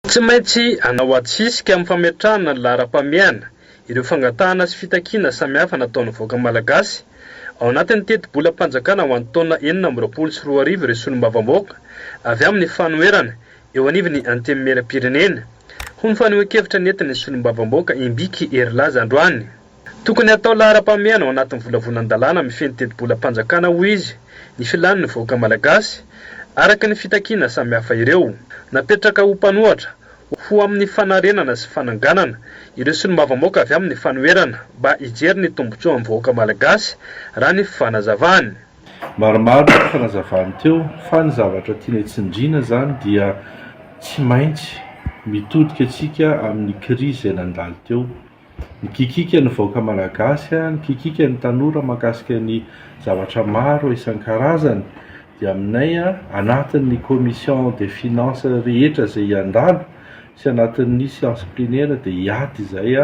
Tsy maintsy hanao ady sisika amin'ny fametrahana ny laharam-pahamehana ireo fangatahana sy fitakiana samihafa nataon'ny vahoaka malagasy. Ao anatin'ny tetibolam-panjakana ho an'ny taona enina amby roapolo sy roa arivo ireo solombavambahoaka avy amin'ny fanoherana eo anivon'ny Antenimierampirenena, hoy ny fanehoan-kevitra nentin'ny solombavambahoaka Imbiky Herilaza androany. Tokony hatao laharam-pahamehana ao anatin'ny volavolan-dalàna mifehy ny tetibolam-panjakana, hoy izy, ny filàn'ny vahoaka malagasy, araka ny fitakiana samihafa ireo. Napetraka ho mpanohatra, ho amin'ny fanarenana sy fananganana, ireo solombavambahoaka avy amin'ny fanoherana mba hijery ny tombontsoan'ny vahoaka malagasy, raha ny fanazavany. Maromaro ny fanazavany teo, fa ny zavatra tiany tsindriana izany dia tsy maintsy mitodika isika amin'ny krizy izay nandalo teo. Nikikika ny vahoaka Malagasy, nikikika ny tanora mahakasika ny zavatra maro isan-karazany. Dia aminay anatin'ny commission des finances rehetra izay hiandalo sy anatin'ny séance plenaire dia hiady izay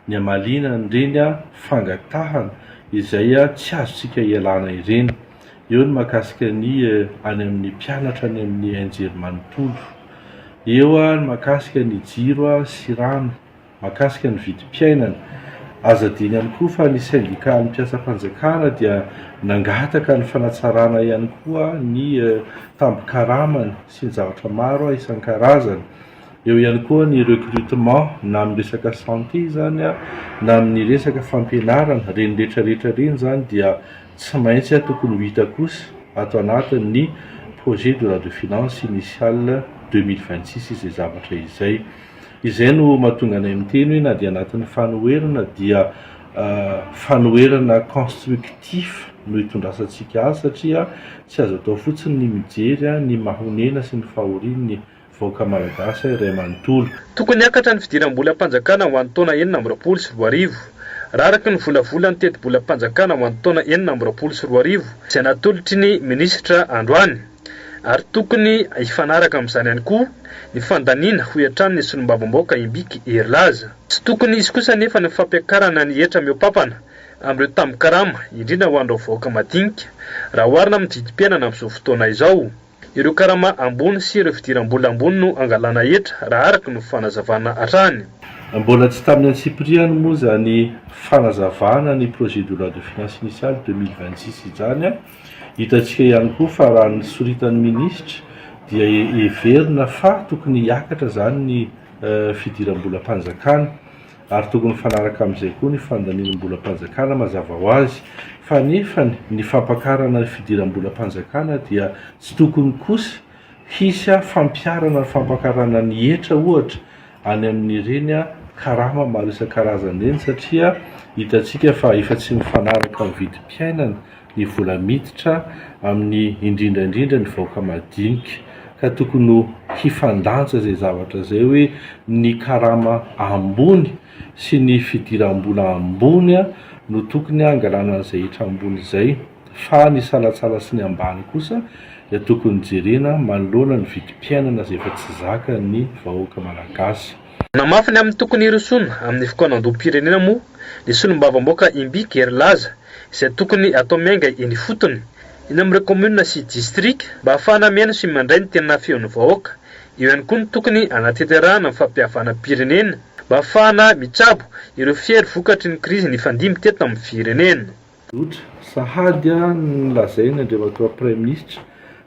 ny hamaliana an'ireny fangatahana izay tsy azontsika ialana ireny. Eo ny mahakasika ny any amin'ny mpianatra any amin'ny NGERM manontolo. Eo ny mahakasika ny jiro sy rano. mahakasika ny vidim-piainana. Azo adino ihany koa fa ny sendikàn'ny mpiasam-panjakana dia nangataka ny fanatsarana ihany koa ny tambin-karamany sy ny zavatra maro isan-karazany. Eo ihany koa ny recrutement na amin'ny resaka santé izany na amin'ny resaka fampianarana, ireny rehetra rehetra ireny izany dia tsy maintsy tokony ho hita kosa ato anatin'ny projet de loi de finances initiale deux mille vingt six izay zavatra izay. Izay no mahatonga anay miteny hoe na dia anatin'ny fanoherana dia fanoherana constructif no itondrasantsika azy satria tsy azo atao fotsiny ny mijery ny mahonena sy ny fahorian'ny vahoaka malagasy iray manontolo. Tokony hiakatra ny fidiram-bolam-panjakana ho an'ny taona enina amby roapolo sy roa arivo. Raha araka ny volavolan'ny tetibolam-panjakana ho an'ny taona enina amby roapolo sy roa arivo izay natolotry ny minisitra androany, ary tokony hifanaraka amin'izany ihany koa ny fandaniana, hoy hatrany ny solombavambahoaka Imbiky Hery Laza. Tsy tokony hisy kosa anefa ny fampiakarana ny hetra mihoa-pampana amin'ireo tambin-karama, indrindra ho an'ireo vahoaka madinika, raha oharina amin'ny vidim-piainana amin'izao fotoana izao. Ireo karama ambony sy ireo fidiram-bola ambony no angalana hetra, raha araka ny fanazavana hatrany. Mbola tsy tamin'ny antsipiriany moa izany fanazavana ny projet de loi de finances initiale deux mille vingt six izany, Hitantsika ihany koa fa raha ny soritan'ny minisitra dia heverina fa tokony hiakatra izany ny fidiram-bolam-panjakana ary tokony mifanaraka amin'izay koa ny fandaninim-bolam-panjakana mazava ho azy fa nefany ny fampakarana ny fidiram-bolam-panjakana dia tsy tokony kosa Hisy fampiharana ny fampakarana ny hetra ohatra any amin'ireny karama maro isan-karazany ireny satria hitantsika fa efa tsy mifanaraka amin'ny vidim-piainana ny vola miditra amin'ny indrindra indrindra ny vahoaka madinika ka tokony ho hifandanja izay zavatra izay hoe ny karama ambony sy ny fidiram-bola ambony no tokony hangalana an'izay hetra ambony izay. fa ny salatsala sy ny ambany kosa dia tokony jerena manoloana ny vidim-piainana izay efa tsy zakan'ny vahoaka malagasy. Namafy ny amin'ny tokony hirosoana amin'ny fikaonandoham-pirenena moa ny solombavamboaka Imbiky Hery Laza izay tokony atao miainga eny ifotony, eny amin'ireo kaominina sy distrika mba hahafahana mihaino sy mandray ny tena feon'ny vahoaka. Eo ihany koa ny tokony hanateterahana ny fampihavanam-pirenena mba hahafahana mitsabo ireo fiery vokatry ny krizy nifandimby teto amin'ny firenena. Tsotra, sahady ny lazainy Andriamatoa Praiminisitra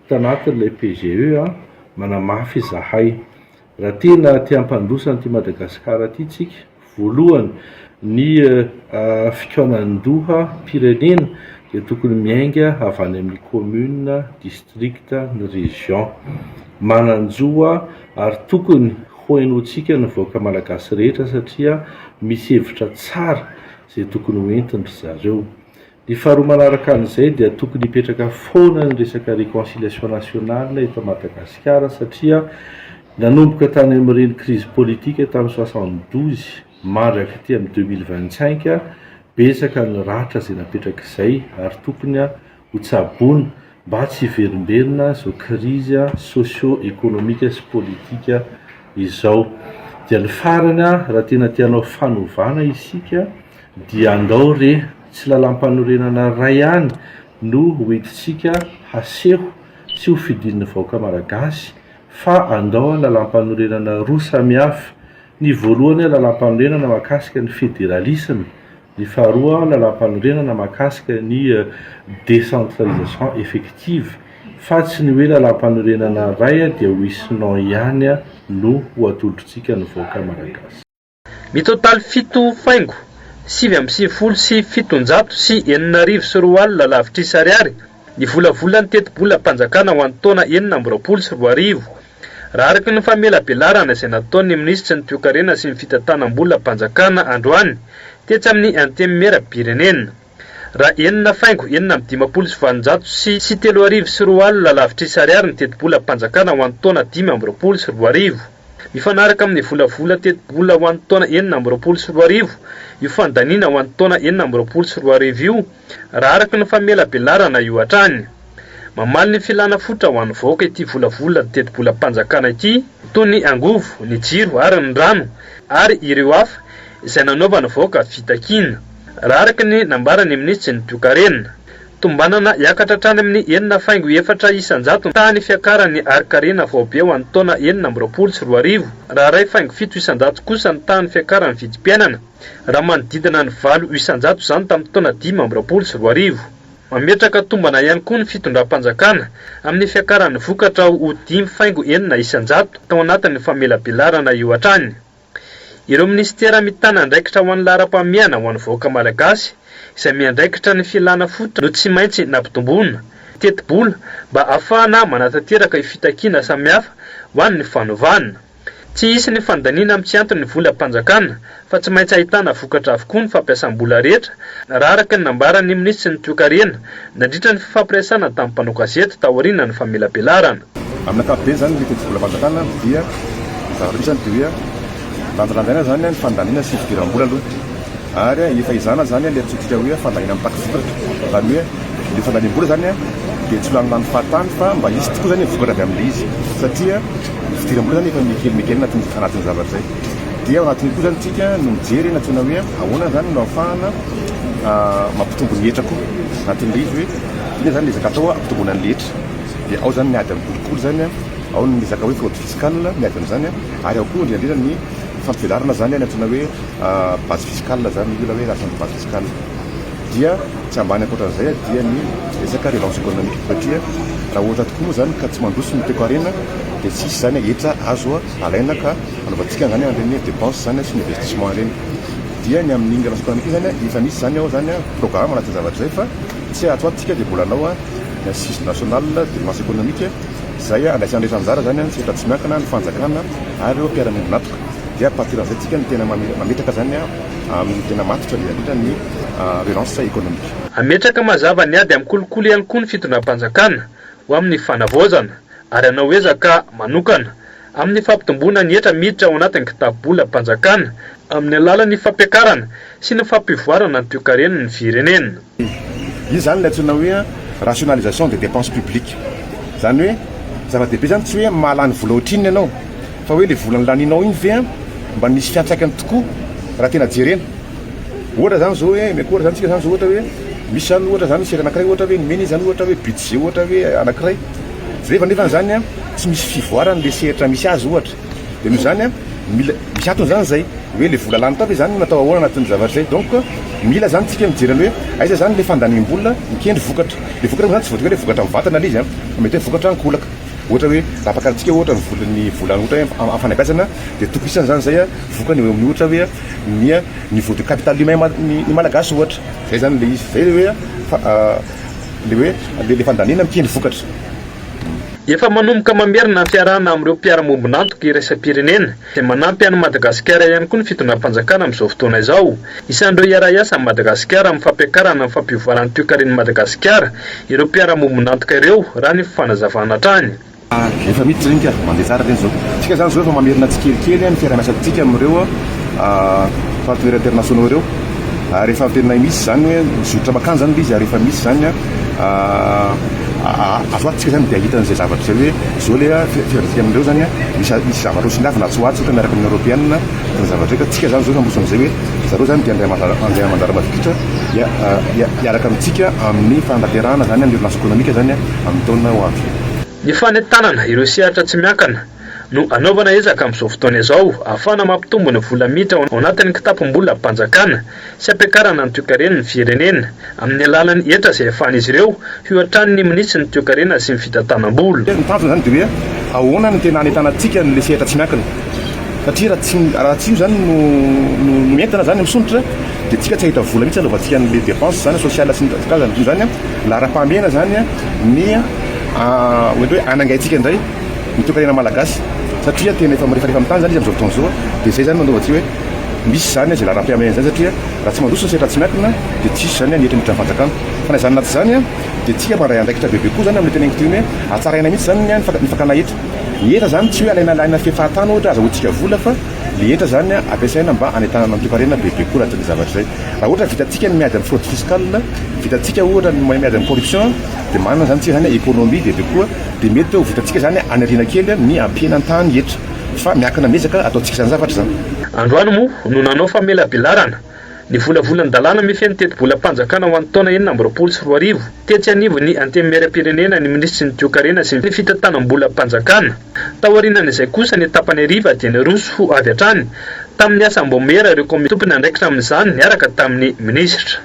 tanatin'ilay PGE, manamafy izahay, raha tena te hampandroso an'ity Madagasikara ity tsika, voalohany ny fikaonandoha mpirenena dia tokony miainga avy any amin'ny Commune, District, ny Région. Manan-jo hoa ary tokony ho henointsika ny vahoaka Malagasy rehetra satria misy hevitra tsara, izay tokony ho entin-dry zareo. Ny faharoa manaraka an'izay dia tokony hipetraka foana ny resaka reconciliation nationale eto Madagasikara satria nanomboka tany amin'ireny crise politique tamin'ny soixante douze mandraka aty amin'ny deux mille vingt cinq betsaka ny ratra izay napetrak'izay ary tokony hotsaboina mba tsy hiverimberina izao krizy socio ekonomika sy politika izao. Dia ny farany raha tena te hanao fanovana isika dia andao re tsy lalampanorenana iray ihany no ho entintsika haseho sy ho fidin'ny vahoaka malagasy fa andao lalampanorenana roa samihafa. Ny voalohany lalampanorenana mahakasika ny federalisme. Ny faharoa, Lalàmpanorenana mahakasika ny décentralisation effective, fa tsy ny hoe Lalàmpanorenana iray dia ho hisy non ihany no ho atolotr'tsika ny vahoaka Malagasy. Mitotaly fito faingo sivy amby sivifolo sy fitonjato sy enina arivo sy roa alina lavitrisa ariary ny volavolan'ny tetibolam-panjakana ho an'ny taona enina amby roapolo sy roa arivo. Raha araka ny famelabelarana izay nataon'ny minisitry ny Toekarena sy ny fitantanam-bolam-panjakana androany, tetsy amin'ny Antemimierampirenena. Raha enina faingo enina amby dimampolo sy valonjato sy sy telo arivo sy roa alina lavitrisa ariary ny tetibolam-panjakana ho an'ny taona dimy amby roapolo sy roa arivo. Mifanaraka amin'ny volavola tetibola ho an'ny taona enina amby roapolo sy roa arivo io fandaniana ho an'ny taona enina amby roapolo sy roa arivo io, raha araka ny famelabelarana io hatrany. Mamaly ny filana fototra ho an'ny vahoaka ity volavolan tetibolam-panjakana ity, toy ny angovo, ny jiro ary ny rano ary ireo hafa izay nanaovan'ny vahoaka fitakiana, raha araka ny nambaran'ny minisitry ny toekarena. Tombanana hiakatra hatrany amin'ny enina faingo efatra isan-jato ny tahan'ny fiakaran'ny harinkarena faobe ho an'ny taona enina amby roapolo sy roa arivo, raha iray faingo fito isan-jato kosa ny tahan'ny fiakaran'ny vidim-piainana. raha manodidina ny valo isan-jato izany tamin'ny taona dimy amby roapolo sy roa arivo. Mametraka tombana ihany koa ny fitondram-panjakana amin'ny fiakaran'ny vokatra ho dimy faingo enina isan-jato tao anatin'ny famelabelarana io hatrany. Ireo minisitera mitana andraikitra ho an'ny laharam-pahamehana ho an'ny vahoaka malagasy izay miandraikitra ny filàna fototra no tsy maintsy nampitomboina tetibola mba hahafahana manatanteraka io fitakiana samihafa ho an'ny fanovana Tsy hisy ny fandaniana amin'ny tsy antony ny volam-panjakana fa tsy maintsy ahitana vokatra avokoa ny fampiasam-bola rehetra, raha araka ny nambaran'ny minisitry ny Toekarena nandritra ny fifampiresahana tamin'ny mpanao gazety taorianan'ny famelabelarana. Amin'ny ankapobeny izany ny tetibolam-panjakana dia ny zavatra misy izany dia hoe lanjalanjaina izany ny fandaniana sy ny fidiram-bola aloha. Ary efa izany aza izany ilay antsointsika hoe fandaniana mitaky vokatra. Izany hoe ilay fandaniam-bola izany dia tsy lanilany fahatany fa mba hisy tokoa izany ny vokatra avy amin'ilay izy. Satria ny fidiram-bola izany efa mikely mikely anatin'izay anatin'izay zavatra izay. Dia ao anatin'io koa izany isika no mijery na tena hoe ahoana izany no ahafahana mampitombo ny hetra koa. Anatin'ilay izy hoe inona izany no ezaka atao hampitomboana ny hetra. Dia ao izany miady amin'ny kolikoly izany, ao ny resaka hoe fraude fiscale miady amin'izany ary ao koa indrindra indrindra ny fampivelarana izany antsoina hoe base fiscale izany miola hoe lasa ny base fiscale dia tsy ambany ankoatran'izay dia ny resaka relance économique satria raha ohatra tokoa moa izany ka tsy mandroso ny toekarena dia tsy hisy izany hetra azo alaina ka anaovantsika izany an'ireny dépense izany sy ny investissement ireny dia ny amin'ny relance économique izany efa misy izany ao izany programme anaty zavatra izay fa tsy ato antsika dia mbola anao ny assise nationale de relance économique izay andraisana rehetra anjara izany tsy efa tsy miankina ny fanjakana ary ireo mpiara-miombon'antoka Dia à partir avy izay tsika no tena mametraka izany amin'ny tena matotra dia indrindra ny relance économique. Hametraka mazava ny ady amin'ny kolikoly ihany koa ny fitondram-panjakana ho amin'ny fanavaozana ary hanao ezaka manokana amin'ny fampitomboana ny hetra miditra ao anatin'ny kitapo-bolam-panjakana amin'ny alalan'ny fampiakarana sy ny fampivoarana ny toekaren'ny firenena. Izy izany ilay antsoina hoe rationalisation des dépenses publiques. Izany hoe zava-dehibe izany tsy hoe mahalany vola ohatrinona ianao fa hoe ilay vola nolanianao iny ve mba nisy fiantraikany tokoa raha tena jerena. Ohatra izany izao hoe omeko ohatra izany isika izany izao ohatra hoe misy izany ohatra izany sery anankiray ohatra hoe nomena izy izany ohatra hoe budget ohatra hoe anankiray rehefa nefa izany tsy misy fivoarany ilay sehatra misy azy ohatra. Dia noho izany, mila, misy antony izany izay, hoe ilay vola lany tao ve izany no natao ahoana anatin'ny zavatra izay. Donc, mila izany isika mijery an'ilay hoe aiza izany ilay fandaniam-bola mikendry vokatra. Ilay vokatra moa izany tsy voatery hoe ilay vokatra mivantana ilay izy, fa mety hoe vokatra ankolaka. Ohatra hoe, raha ampakaritsika ohatra ny vola, ny vola ohatra hoe amin'ny fanabeazana, dia tokisana izany izay vokany eo amin'ny ohatra hoe ny niveau de capital humain ny ny Malagasy ohatra. Izay izany ilay izy. Izay ilay hoe fa, ilay hoe ilay fandaniana mikendry vokatra. Efa manomboka mamerina ny fiarahana amin'ireo mpiara-miombon'antoka iraisam-pirenena, izay manampy an'i Madagasikara ihany koa ny fitondram-panjakana amin'izao fotoana izao. Isan'ireo hiara-hiasa amin'i Madagasikara amin'ny fampiakarana ny fampivoarana ny toekaren'i Madagasikara ireo mpiara-miombon'antoka ireo, raha ny fanazavana hatrany. Efa miditra ireny ka, mandeha tsara ireny izao. Isika izany izao efa mamerina tsikelikely ny fiaraha-miasantsika amin'ireo partenaires internationaux ireo, ary efa tena misy izany hoe mizotra mankany izany ilay izy, ary efa misy izany. azo antoka izany dia hahita an'izay zavatra izay hoe izao ilay fiadidiana amin'ireo izany misy misy zavatra ho songavina atsy ho atsy ohatra miaraka amin'ny Eoropeana izany zavatra izay ka antsika izany izao mandroso an'izay hoe zareo izany dia andriamani- andriamanjara mavitrika hia- hia- hiaraka amintsika amin'ny fanatanterahana izany ny Ordonnance économique izany amin'ny taona ho avy. Ny fanentanana ireo sehatra tsy miankana no anaovana ezaka amin'izao fotoana izao ahafahana mampitombo ny vola miditra ao anatin'ny kitapom-bolam-panjakana. sy hampiakarana ny toekarena ny firenena amin'ny alalan'ny hetra izay ahafahan'izy ireo hihoatrany ny minitry ny toekarena sy ny fitantanam-bola. Ny tanjona izany dia hoe ahoana no tena hanentanantsika an'ilay sehatra tsy miankina. Satria raha tsy raha tsy io izany no no no entina izany misondrotra dia tsika tsy hahita vola mihitsy hanaovantsika an'ilay dépense izany sociale sy ny karazany. Koa izany laharam-pahamehana izany ny mety hoe hanangaintsika indray ny toekarena malagasy satria tena efa mirefarefa amin'ny tany izany izy amin'izao fotoana izao dia izay izany no anaovantsika hoe. Misy izany izay laharam-piameana izany satria raha tsy mandroso ny sehatra tsy miankina dia tsy hisy izany ny hetra miditra ny fanjakana. Fa na izany na tsy izany dia isika mandray andraikitra bebe koa izany amin'ny teneniko toy ny hoe hatsaraina mihitsy izany ny ny fakana hetra. Ny hetra izany tsy hoe alaina alaina fefahatany ohatra azahoantsika vola fa ilay hetra izany ampiasaina mba hanentanana ny toekarena bebe koa raha izay zavatra izay. Raha ohatra vitantsika ny miady amin'ny fraude fiscale, vitantsika ohatra ny miady amin'ny corruption dia manana izany isika izany economie bebe koa dia mety ho vitantsika izany haniriana kely ny hampihenany tany hetra. Fa miankina amin'ny ezaka ataontsika izany zavatra izany. Androany moa no nanao famelabelarana ny volavolan'ny dalàna mifehy ny tetibolam-panjakana ho an'ny taona enina amby roapolo sy roa arivo, tetsy anivon'ny Antenimierampirenena ny minisitry ny Toekarena sy ny Fitantanam-bolam-panjakana. Taorianan'izay kosa ny tapany hariva dia niroso ho avy hatrany tamin'ny asa Ambaomihera ireo kaominina tompon'andraikitra amin'izany niaraka tamin'ny minisitra.